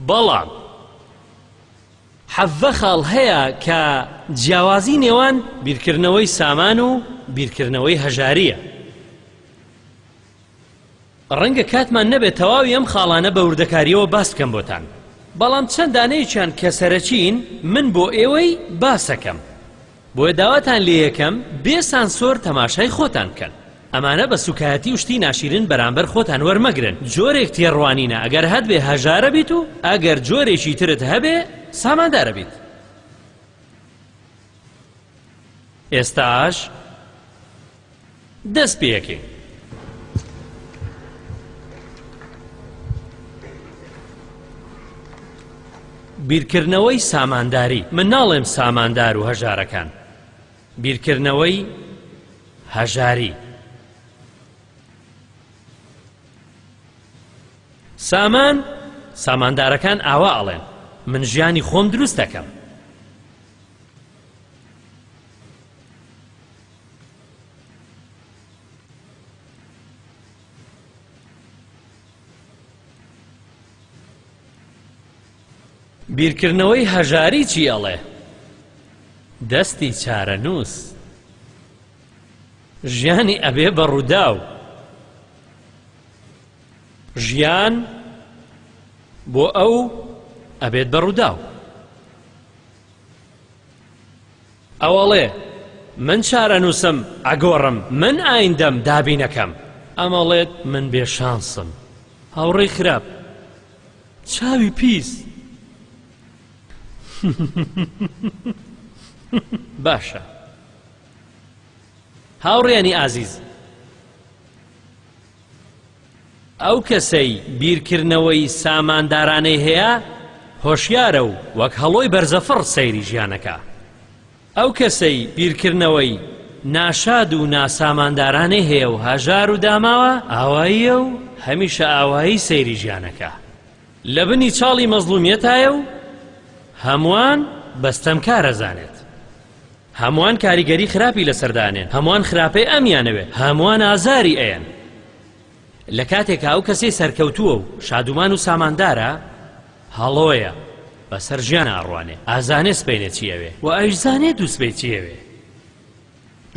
بەڵام حەڤە خاڵ هەیە کە جیاوازی نێوان بیرکردنەوەی سامان و بیرکردنەوەی هەژاریە ڕەنگە کاتمان نەبێت تەواوی ئەم خاڵانە بە وردەکاریەوە باس بکەم بۆتان بەڵام چەندانەیەکیان کە سەرەکیین من بۆ ئێوەی باسەکەم بۆیە داواتان لێیەکەم بێ سانسۆر تەماشای خۆتان بکەن ئەمانە بە سوکایەتی و شتی ناشیرن بەرامبەر خۆتان وەرمەگرن جۆرێک تێڕوانینە ئەگەر هەتبێ هەژارە بیت و ئەگەر جۆرێکی ترت هەبێ ساماندارە بیت ئێستاش دەست پێکەین. بیرکردنەوەی سامانداری من ناڵێم ساماندار و هەژارەکان بیرکردنەوەی هەژاری سامان ساماندارەکان ئاوا ئەڵێن من ژیانی خۆم دروست دەکەم بیرکردنەوەی هەژاری چی ئەڵێ دەستی چارەنووس ژیانی ئەبێ بە ڕووداو ژیان بۆ ئەو ئەبێت بە ڕووداو ئەوەڵێ، من چارەنووسم ئەگۆڕم، من ئایندەم دابینەکەم. ئەمەڵێت، من بێ شانسم، هاوڕێی خراپ، چاوی پیس. باشە هاوڕێیانی ئازیز. ئەو کەسەی بیرکردنەوەی ساماندارانەی هەیە هۆشیارە و وەک هەڵۆی بەرزەفڕ سەیری ژیانەکا. ئەو کەسەی بیرکردنەوەی ناشاد و ناساماندارانەی هەیە و هەژار و داماوە ئاواییە و هەمیشە ئاوایی سەیری ژیانەکا. لە بنی چاڵی مەزڵومیەتایە و هەموان بە ستەمکار ئەزانێت. هەموان کاریگەری خراپی لەسەردا ئەنێن هەموان خراپەی ئەمیانەوێ هەموان ئازاری ئەیەن لە کاتێکا ئەو کەسەی سەرکەوتووە و شادومان و ساماندارە هەڵۆیە بەسەر ژیان ئاڕوانێ ئازانێ سپینێ چی ئەوێ و ئەویش زانێ دوو سبەی چی ئەوێ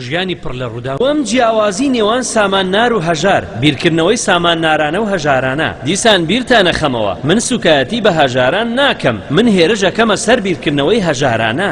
ژیانی پڕ لە ڕوودا وەم جیاوازی نێوان سامان نار و هەژار بیرکردنەوەی سامان نارانە و هەژارانە دیسان بیرتانە خەمەوە من سوکایەتی بە هەژاران ناکەم من هێرش ئەکەمە سەر بیرکردنەوەی هەژارانە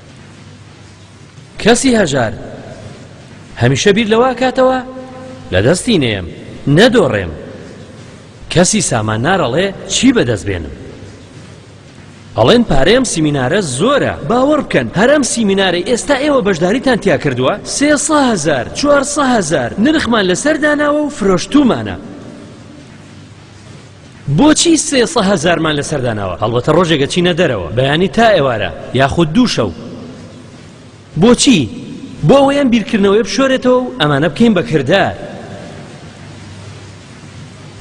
کەسی هەژار هەمیشە بیر لەوە کاتەوە لە دەستی نێم نەدۆڕێم کەسی سامان نارەڵێ چی بەدەست بێنم ئەڵێن پارەیەم سیمینارە زۆرە باوەڕ بکەن هەرم سیمینارە ئێستا ئێوە بەشداریتان تیا کردووە سێهزار چوارهزار نرخمان لەسەر داناوە و فرۆشتومانە بۆچی سێ سە هەزارمان لەسەر داناوە هەڵبەتە ڕۆژێکە چینە دەرەوە بەیانی تا ئێوارە یاخود دوو شەو بۆچی بۆ ئەوەی ئەم بیرکردنەوەی بشۆرێتەوە و ئەمانە بکەین بە کردار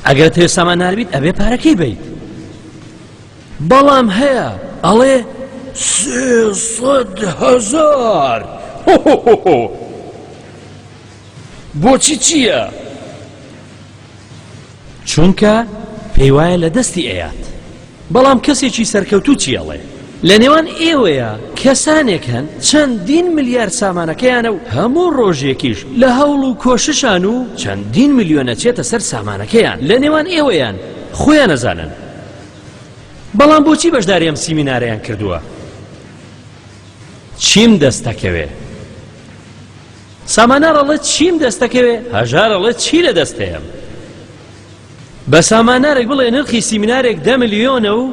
ئەگەر تێسامان ناویت ئەبێ پارەکەی بیت بەڵام هەیە ئەڵێ هزار بۆچی چییە؟ چونکە پێیوایە لە دەستی ئەیات بەڵام کەسێکی سەرکەوتو چی ئەڵێ لە نێوان ئێوەیە کەسانێک هەن چەندین ملیار سامانەکەیانە و هەموو ڕۆژێکیش لە هەوڵ و کۆششان و چەندین ملیۆنە چێتە سەر سامانەکەیان لە نێوان ئێوەیان خۆیان نەزانن بەڵام بۆچی بەشداری ئەم سیمینارەیان کردووە چیم دەستەکەوێ سامانار ئەڵێت چیم دەستەکەوێ هەژار ئەڵێت چی لە دەست هەیەم بە سامانارێک بڵێ نرخی سیمینارێک دە ملیۆنە و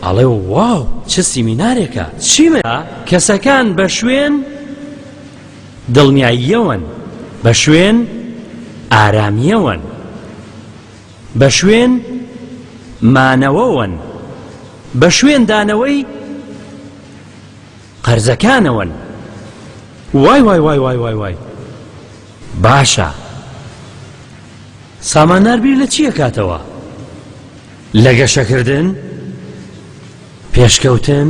ئەڵێ واو چ سیمینارێکە چیمە کەسەکان بە شوێن دڵنیاییەوەن بە شوێن ئارامیەوەن بە شوێن مانەوەوەن بە شوێن دانەوەی قەرزەکانەوەن وای وای وای وای وای وای باشە سامانار بیر لە چییە کاتەوە لە گەشەکردن پێشکەوتن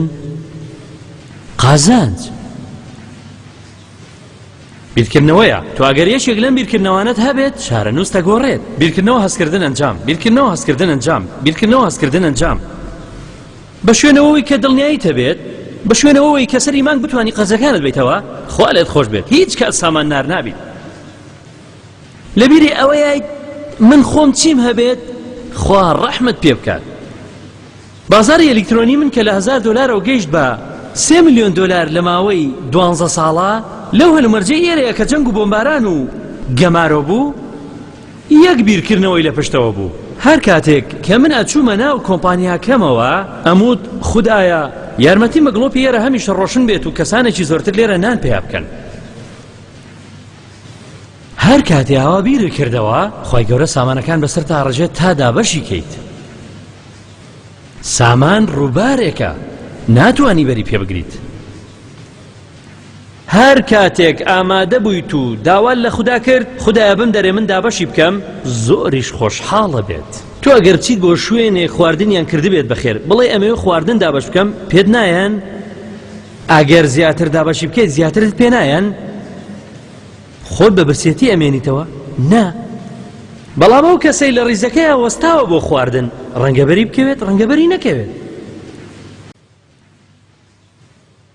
قازانج بیرکردنەوەیە تو ئەگەر یەکێک لەم بیرکردنەوانت هەبێت شارە نووس دەگۆڕێت بیرکردنەوە هەستکردن ئەنجام بیرکردنەوە هەستکردن ئەنجام بیرکردنەوە هەستکردن ئەنجام بە شوێنەوەوەی کە دڵنیایت هەبێت بە شوێنەوەوەی کە سەری مانگ بتانی قەرزەکانت بیتەوە خوا لێت خۆش بێت هیچ کات سامان نار نابیت لەبیری ئەوەیت من خۆم چیم هەبێت خوا ڕەحمت پێ بکات بازاری ئەلیکترۆنی من کە لە هزار دلارەوە گەیشت بە سێ میلیۆن دلار لە ماوەی دوانزە ساڵە لەو هەلومەرجەی ئێرەیە کە جەنگ و بۆمباران و گەمارۆ بوو یەک بیرکردنەوەی لە پشتەوە بوو. هەر کاتێک کە من ئەچوومە ناو کۆمپانیاکەمەوە ئەموت خودایە یارمەتیم بە گڵۆپی ئێرە هەمیشە ڕۆشن بێت و کەسانێکی زۆرتر لێرە نان پەیا بکەن. هەر کاتێ ئاوا بیرت کردەوە خی گەورە سامانەکان بەسەر تا ڕژێت تا دابەشی کەیت سامان ڕووبارێکە ناتوانانی بەری پێ بگریت هەر کاتێک ئامادە بوویت و داوات لە خودا کرد خودایە بمدەرێ من دابەشی بکەم زۆریش خۆشحاڵە بێت تۆ ئەگەر چیت بۆ شوێنێ خواردنیان کردبێت بەخێر بڵێ ئەمەوێ خواردن دابەش بکەم پێت نایەن ئەگەر زیاتر دابەشی بکەیت زیاترت پێ نایەن خۆت بە برسێتی ئەمێنیتەوە نا بەڵام ئەو کەسەی لە ڕیزەکەی وەستاوە بۆ خواردن ڕەنگەبەری بکەوێت ڕەنگەبەری نەکەوێت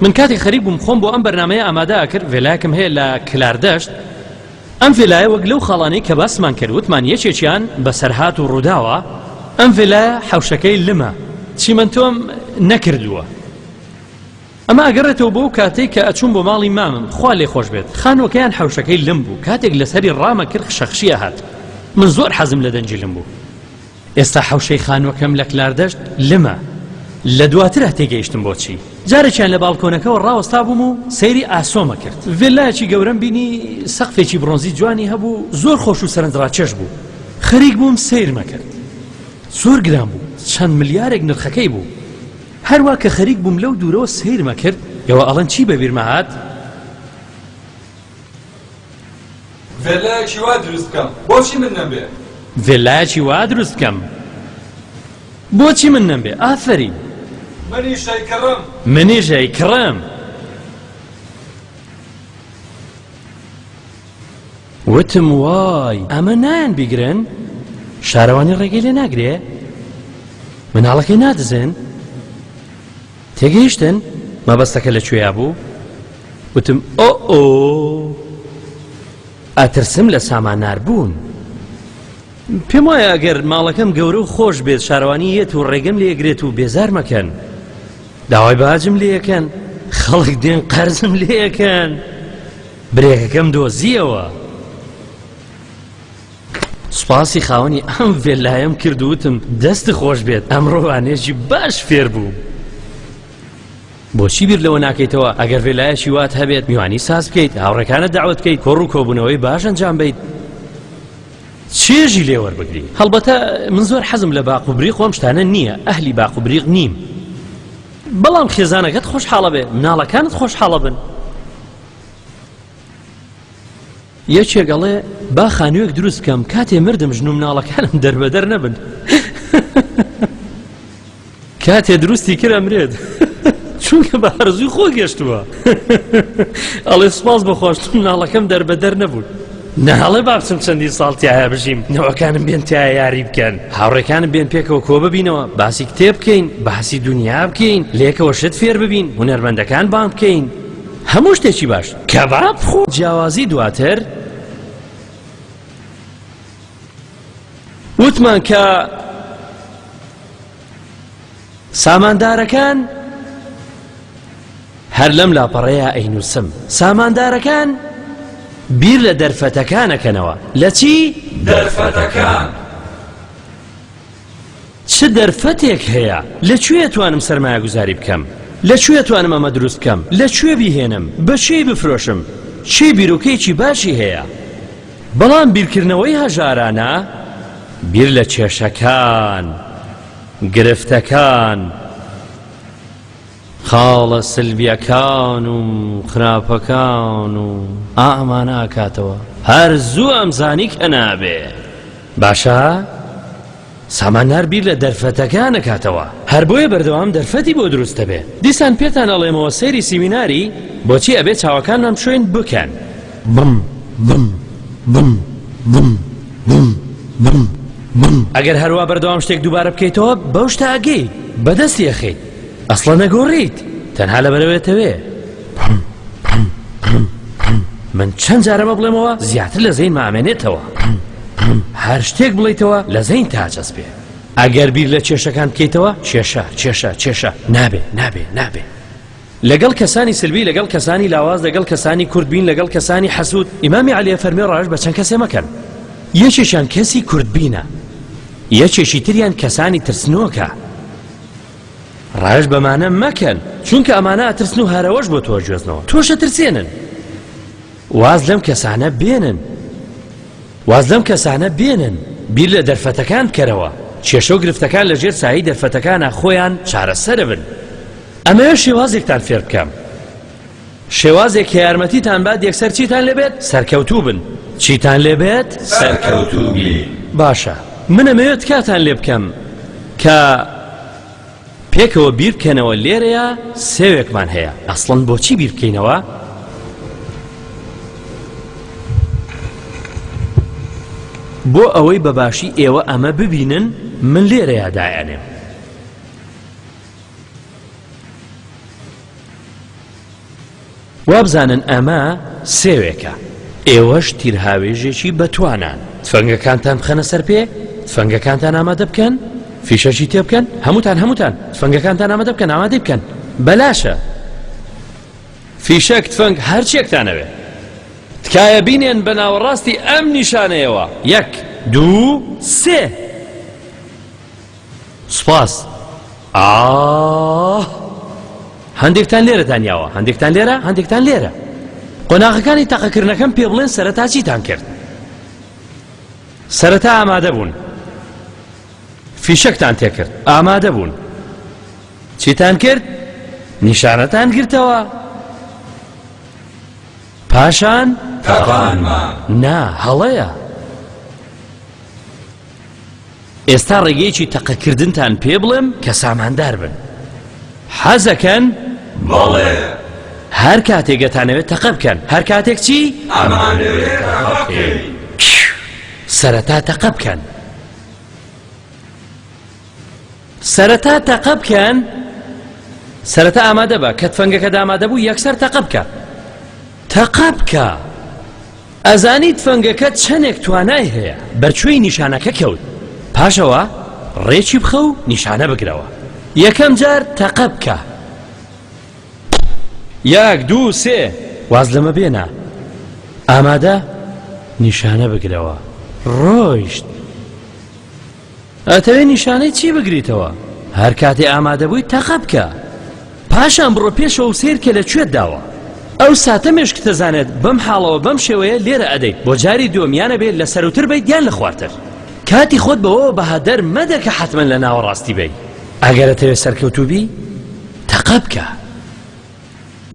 من کاتێک خەریک بووم خۆم بۆ ئەم بەرنمەیە ئامادە ئەکرد ڤێلایەکم هەیە لە کلاردەشت ئەم ڤێلایە وەک لەو خاڵانەی کە باسمان کرد وتمان یەکێکیان بەسەرهات و ڕووداوە ئەم ڤێلایە حەوشەکەی لمە چیمەنتۆم نەکردووە ئەمە ئەگەڕێتەوە بۆ کاتێک کە ئەچوون بۆ ماڵی مامم خوا لێ خۆش بێت خانوەکەیان حەوشەکەی لم بوو کاتێک لەسەری ڕامە کرد خشەخشیە هات من زۆر حەزم لە دەنجی لم بوو ئێستا حەوشەی خانووەکەم لە کلاردەشت لمە لە دواترا تێگەیشتم بۆچی جارێکیان لە باڵکۆنەکەەوە ڕاوەستا بووم و سەیری ئاسۆمە کرد ڤێلایەکی گەورەم بینی سەقفێکی بڕۆنزی جوانی هەبوو زۆر خۆش و سەرنجڕاکێش بوو خەریک بووم سیرمە کرد زۆر گران بوو چەند ملیارێک نرخەکەی بوو هەروە کە خەریک بووم لەو دوورەوە سیرمە کرد ئێوە ئەڵەن چی بەبیرمە هاات ڤێللایەکی وا دروست بکەم بۆچی من نەمبێ ڤێللایەکی وا دروست بکەم بۆچی من نەمبێ ئافرین منیش ئەیکڕم منیش ئەیکڕم وتم وای ئەمە نایەن بیگرن شارەوانی ڕێگەی لێ ناگرێ مناڵەکەی نادزێن تێگەیشتن؟ مەبەستەکە لە کوێیا بوو؟ وتم ئۆ ئۆ ئەترسم لە سامانار بوون. پێم وایە ئەگەر ماڵەکەم گەورە و خۆش بێت شارەوانی یەت و ڕێگەم لێگرێت و بێزار مەکەن. داوای باجم لێەکەن خەڵک دێن قەرزم لێەکەن. برێکەکەم دۆزیەوە. سوپاسی خاوەنی ئەم ڤێلایەم کرد وتم دەست خۆش بێت ئەمڕۆوانێژی باش فێر بووم بۆچی بیر لەوە ناکەیتەوە ئەگەر ڤێلایەکی وات هەبێت میوانی ساز بکەیت هاوڕەکانە داوت بکەیت کۆڕ و کۆبوونەوەی باش ئەنجام بیت چێژی لێوەەر بگری هەڵبەتە من زۆر حەزم لە باق و بری خۆم شتانە نییە ئەهلی باق و بریق نیم بەڵام خێزانەکەت خۆشحاڵە بێ مناڵەکانت خۆشحاڵە بن یەکێک ئەڵێ با خانوویەک دروست بکەم کاتێ مردم ژن و مناڵەکانم دەربەدەر نەبن کاتێ دروستی کرا مرێت چونکە بە هەرزوی خۆ گەشتووە ئەڵێ سپاس بەخۆش مناڵەکەم دەربەدەر نەبوو نەهڵێ بابچم چەندی ساڵ تایە بژیم نەوەکانم بێن تایە یاری بکەن هاوڕێکانم بێن پێکەوە کۆ ببینەوە باسی کتێ بکەین باسی دنیا بکەین لێکەوە شت فێر ببین هوەرمەندەکان بان بکەین هەموو شتێکی باش کەباب خۆ جیاوازی دواتر وتمان کە ساماندارەکان هەر لەم لاپەڕەیە ئەینوسم ساماندارەکان بیر لە دەرفەتەکانەکەنەوە لە چی دەرفەتەکان چ دەرفەتێک هەیە؟ لە کوێ توانم سەرمایەگوزاری بکەم؟ لە کوێ توانم ئەمە دروست بکەم؟ لە کوێ بیهێنم؟ بە کێی بفرۆشم؟ کێ بیرۆکەیەکی باشی هەیە؟ بەڵام بیرکردنەوەی هەژارانە بیر لە کێشەکان، گرفتەکان، خاڵە سلبیەکان و خراپەکان و ئا ئەمانە ئاکاتەوە هەر زوو ئەمزانی کە نابێ باشە سامانار بیر لە دەرفەتەکان نەکاتەوە هەر بۆیە بەردەوام دەرفەتی بۆ دروست دەبێ دیسان پێتان ئەڵێمەوە سەیری سیمیناری بۆچی ئەبێ چاوەکانمان بشوین بکەن بم بم بم بم بم بم بم ئەگەر هەروە بەردەوام شتێک دووبارە بکەیتەوە بەو شتە ئەگەی بەدەستی ئەخەیت ئەسڵەن نەگۆڕیت تەنها لەبەرەوەێتەوێ من چەند جارەمە بڵێمەوە زیاتر لە زەین مامێنێتەوە هەر شتێک بڵیتەوە لە زەین تاجەز بێ ئەگەر بیر لە کێشەکان بکەیتەوە کێشە کێشە کێشە نابێ نابێ نابێ لەگەڵ کەسانی سلبی لەگەڵ کەسانی لاواز لەگەڵ کەسانی کوردبین لەگەڵ کەسانی حەسوود ئیمامی علیە فەرمی ڕژ بە چەند کەسێ مەکەن یەکێکیان کەسی کوردبینە یەکێکی تریان کەسانی ترسنۆکە ڕایش بەمانە مەکەن چونکە ئەمانە ئەترسن و هەرەوەش بۆ تۆ گوێزنەوە تۆشە ترسێنن واز لەم کەسانە بێنن واز لەم کەسانە بێنن بیر لە دەرفەتەکان بکەرەوە کێشە و گرفتەکان لەژێر سایی دەرفەتەکانە خۆیان چارەسەر بن ئەمەوێ شێوازێکتان فێر بکەم شێوازێک کە یارمەتیتان بات یەکسەر چیتان لێبێت سەرکەوتوو بن چیتان لێبێت سەرکەوتوو باشە منە مەوێت کاتان لێ بکەم کە پێکەوە بیر بکەنەوە لێرەیە سێوێکمان هەیە ئەسڵەن بۆچی بیر بکەینەوە بۆ ئەوەی بەباشی ئێوە ئەمە ببینن من لێرەیە دایانێم وابزانن ئەمە سێوێکە ئێوەش تیرهاوێژێکی بەتوانان تفەنگەکانتان بخەنە سەر پێ تفەنگەکانتان ئامادە بکەن فیشەکی تێ بکەن هەمووتان هەمووتان تفەنگەکانتان ئامادە بکەن ئامادەی بکەن بەلاشە فیشەک تفەنگ هەرچێکتانەوێ تکایە بینێن بە ناوەڕاستی ئەم نیشانەیەوە یەک دوو سێ سوپاس ئااه هەندێکتان لێرە دانیاوە هەندێکتان لێرە هەندێکتان لێرە قۆناغەکانی تەقەکردنەکەم پێ بڵێن سەرەتا چیتان کرد سەرەتا ئامادە بوون فیشەکتان تێکرد ئامادە بوون چیتان کرد نیشانەتان گرتەوە پاشان تاقانمان نا هەڵەیە ئێستا ڕێگەیەکی تەقەکردنتان پێ بڵێم کە ساماندار بن حەزەکەن بەڵێ هەر کاتێک دەتانەوێت تەقە بکەن هەر کاتێک چی سەرەتا تەقە بکەن سەرەتا تەقە بکەن سەرەتا ئامادە بە کە تفەنگەکە دامادە بوو یەکسەر تەقە بکە تەقە بکە ئەزانی تفەنگەکە چەندێک توانای هەیە بەرچووی نیشانەکە کەوت پاشەوە ڕێکی بخە و نیشانە بگرەوە یەکەم جار تەقە بکە یاک دوو سێ واز لەمە بێنە ئامادە نیشانە بگرەوە ڕۆیشت ئەتەوێ نیشانەی چی بگریتەوە هەرکاتێ ئامادەبووی تەقە بکە پاشان بڕۆ پێشەوە و سیر کە لە کوێت داوە ئەو ساتە مێشکتەزانێت بەم حاڵەوە بەم شێوەیە لێرە ئەدەیت بۆ جاری دووەمیانە بێت لە سەروتر بیت یان لە خوارتر کاتی خۆت بەوەوە بەهادەر مەدە کە حتمما لە ناوە ڕاستی بی ئەگەرە تەوێ سەرکەوتوبی تەقە بکە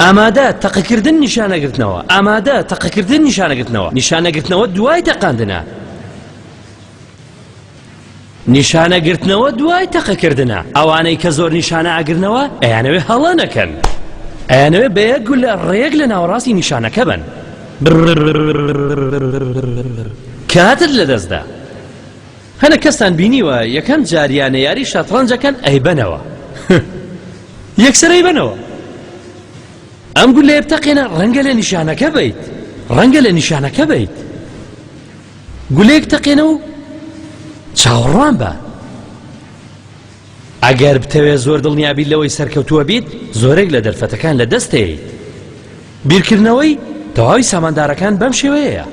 ئامادە تەقەکردن نیشانەگرتنەوە ئامادە تەقەکردن نیشانەگرتنەوە نیشانەگرتنەوە دوای تەقاندنە نیشانەگرتنەوە دوای تەقەکردنە ئەوانەی کە زۆر نیشانە ئاگرنەوە ئەیانەوێ هەڵە نەکەن ئەیانەوێ بە یەک گولە ڕێک لە ناوەڕاستی نیشانەکە بن کاتت لەدەستدا هەنە کەستان بینیوە یەکەم جاریانە یاری شەتڕەنجەکەن ئەیبەنەوە یەکسەرەی بنەوە ئەم گولێ بتەقێنە ڕەنگە لە نیشانەکە بیت ڕەنگە لە نیشانەکە بیت گولەیەک تەقێنە و چاوەڕوان بە ئەگەر بتەوێ زۆر دڵنیابیت لەوەی سەرکەوتووە بیت زۆرێک لە دەرفەتەکان لە دەستەیت بیرکردنەوەی تەواوی ساماندارەکان بەم شێوەیەیە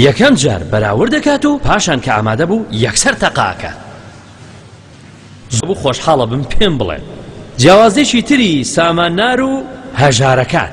یەکەم جار بەراورد دەکات و پاشان کە ئامادە بوو یەکسەر تەقاکە زبوو خۆشحاڵە بم پێم بڵێ جیاوازێکی تری ساماننار و هەژارەکان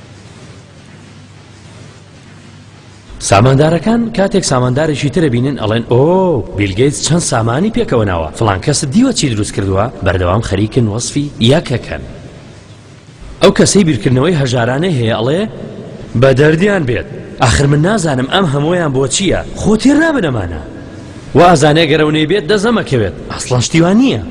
ساماندارەکان کاتێک ساماندارێکی ترە بینن ئەڵێن ئۆ بیلگەیت چەند سامانی پێکەوە ناوە فلان کەس دیوە چی دروست کردووە بەردەوام خەریکن وەصفی یەکەکەن ئەو کەسەی بیرکردنەوەی هەژارانەی هەیە ئەڵێ بە دەردیان بێت ئاخر من نازانم ئەم هەمویان بۆ چییە خۆ تێر نابنەمانە وازانێ گەرەونەی بێت دەزەمەکەوێت ئەسڵەشتیوان نییە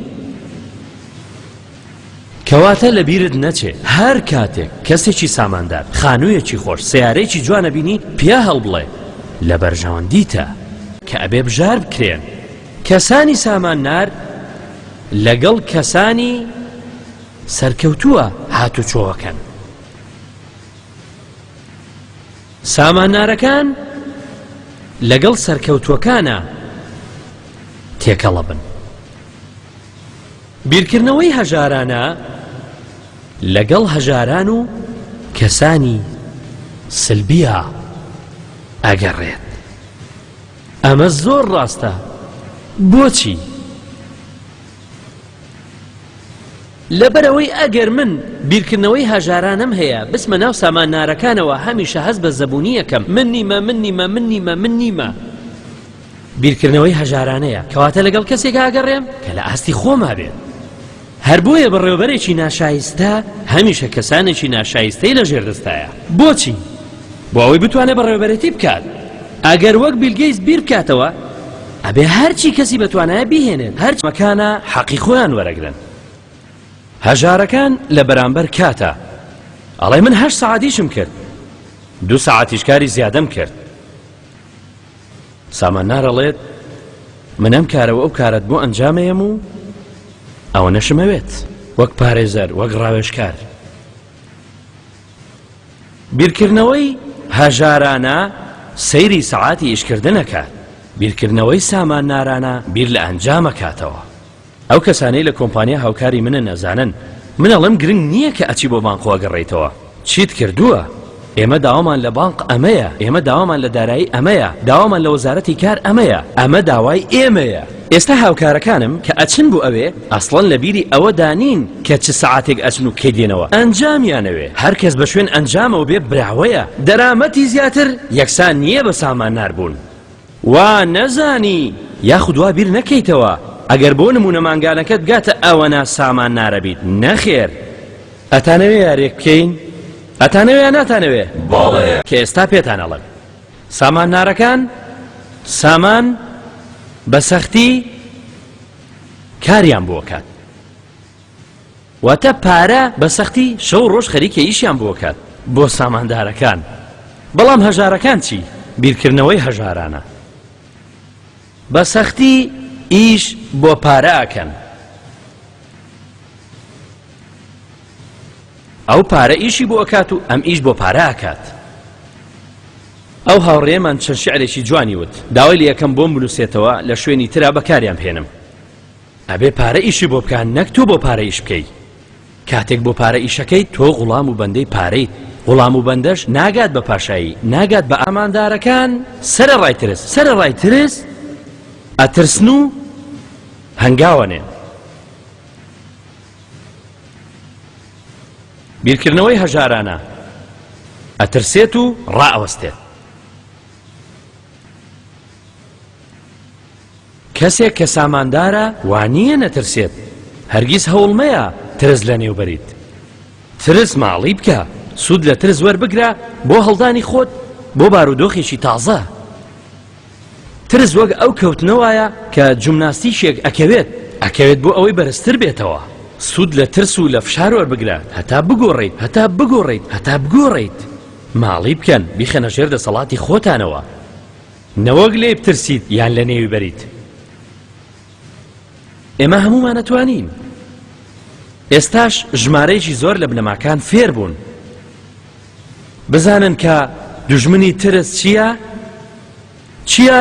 کەواتە لەبیرت نەچێ هەر کاتێک کەسێکی ساماندار خانوویەکی خۆش سیارەیەکی جوانە بینی پیا هەڵبڵێ لە بەرژەوەندیتە کە ئەبێ بژار بکرێن کەسانی ساماننار لەگەڵ کەسانی سەرکەوتووە هاتوچۆەکەن ساماننارەکان لەگەڵ سەرکەوتوەکانە تێکەڵە بن بیرکردنەوەی هەژارانە لەگەڵ هەژاران و کەسانی سلبیا ئەگەڕێت ئەمە زۆر ڕاستە بۆچی لەبەرەوەی ئەگەر من بیرکردنەوەی هەژارانم هەیە بسمە ناو سامان نارەکانەوە هەمیشە هەز بە زەبوونیەکەم من نیمە من نیمە من نیمە من نیمە بیرکردنەوەی هەژارانەیە، کەواتە لەگەڵ کەسێکا ئەگەڕێم کە لە ئاستی خۆما بێت. هەر بۆیە بەڕێوەبەرێکی ناشایستە هەمیشە کەسانێکی ناشایستەی لە ژێر دەستایە. بۆچی؟ بۆ ئەوەی بتوانێت بەڕێوەبەرێتی بکات. ئەگەر وەک بیل گەیتس بیر بکاتەوە، ئەبێ هەرچی کەسی بەتوانایە بیهێنێت، هەرچی مەکانە حەقی خۆیان وەرەگرن. هەژارەکان لە بەرامبەر کاتا ئەڵێ من هەشت سەعات ئیشم کرد، دوو سەعاتیش کاری زیادەم کرد. سامان نار ئەڵێت من ئەم کارە و ئەو کارەت بۆ ئەنجامەیەم و ئەوە نەشمەوێت وەک پارێزەر وەک ڕاوێشکار بیرکردنەوەی هەژارانە سەیری سەعاتی ئیشکردنەکە بیرکردنەوەی سامان نارانە بیر لە ئەنجامەکاتەوە ئەو کەسانەی لە کۆمپانیا هاوکاری منن ئەزانن من ئەڵێم گرنگ نییە کە ئەچی بۆ بانقۆ ئەگەڕێیتەوە چیت کردووە ئێمە داوامان لە بانق ئەمەیە ئێمە داوامان لە دارایی ئەمەیە داوامان لە وەزارەتی کار ئەمەیە ئەمە داوای ئێمەیە ئێستا هاوکارەکانم کە ئەچن بۆ ئەوێ ئەسڵەن لە بیری ئەوەدا نین کە چ سەعاتێک ئەچن و کەی دێنەوە ئەنجامیانەوێ هەر کەس بە شوێن ئەنجامەوە بێ براوەیە دەرامەتی زیاتر یەکسان نییە بە سامانار بوون وا نەزانی یاخود وا بیر نەکەیتەوە ئەگەر بۆ نموونە مانگانەکەت بگاتە ئەوەنە سامان نارەبیت نەخێر ئەتانەوێ یارێک بکەین ئەتانەوێ یا ناتانەوێ کە ئێستا پێتان ئەڵێم سامان نارەکان سامان بە سەختی کاریان بۆ کات واتە پارە بە سەختی شەو ڕۆژ خەریکە ئیشیان بۆ کات بۆ ساماندارەکان بەڵام هەژارەکان چی بیرکردنەوەی هەژارانە بە سەختی ئیش بۆ پاراکەن ئەو پارە ئیشی بۆ ئەکات و ئەم ئیش بۆ پاراکات ئەو هاوڕێمان چەند شعرێکی جوانی وت داوای لە یەکەم بۆم بنووسێتەوە لە شوێنی ترا بەکاریان بهێنم ئەبێ پارە ئیشی بۆ بکا نەک تۆ بۆ پارە ئیش بکەی کاتێک بۆ پارە ئیشەکەی تۆ غوڵام و بەندەی پارەیت غوڵام و بەندەش ناگات بە پاشایی ناگات بە ئاماندارەکان سەر ڕای ترس سەر ڕای ترس ئەترسن و هەنگاوەنێن بیرکردنەوەی هەژارانە ئەترسێت و ڕائەوەستێت کەسێک کە ساماندارە وانییە نەترسێت، هەرگیز هەوڵ مەیە ترس لەنێو بەریت. ترس ماڵی بکە، سوود لە ترس وەربگرە بۆ هەڵدانی خۆت بۆ بارودۆخێکی تازە. ترس وەک ئەو کەوتنە وایە کە جومناستیکێک ئەکەوێت، ئەکەوێت بۆ ئەوەی بەرزتر بێتەوە. سوود لە ترس و لە فشار وەربگرە هەتا بگۆڕیت، هەتا بگۆڕیت، هەتا بگۆڕیت. ماڵی بکەن، بیخەنە ژێر دەسەڵاتی خۆتانەوە. نەوەک لێی بترسیت یان لە نێوی بەریت ئێمە هەمومان ئەتوانین ئێستاش ژمارەیەکی زۆر لە بنەماکان فێر بوون بزانن کە دژمنی ترس چییە؟ چییە؟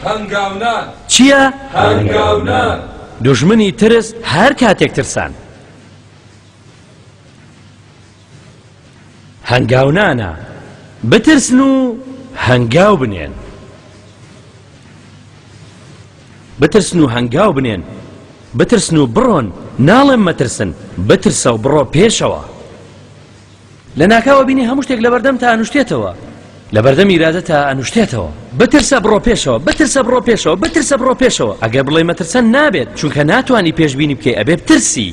هەنگاونان چییە؟ هەنگاونان دژمنی ترس هەر کاتێک ترسان هەنگاونانە، بترسن و هەنگاو بنێن. بترسن و هەنگاو بنێن، بترسن و بڕۆن، ناڵێم مەترسن، بترسە و بڕۆ پێشەوە. لە ناکاوە بینی هەموو شتێک لەبەردەم تا ئەنوشتێتەوە، لەبەردەم ئیرادە تا ئەنوشتێتەوە. بترسە بڕۆ پێشەوە، بترسە بڕۆ پێشەوە، بترسە بڕۆ پێشەوە. ئەگەر بڵێی مەترسە نابێت، چونکە ناتوانی پێشبینی بکەی، ئەبێ بترسی.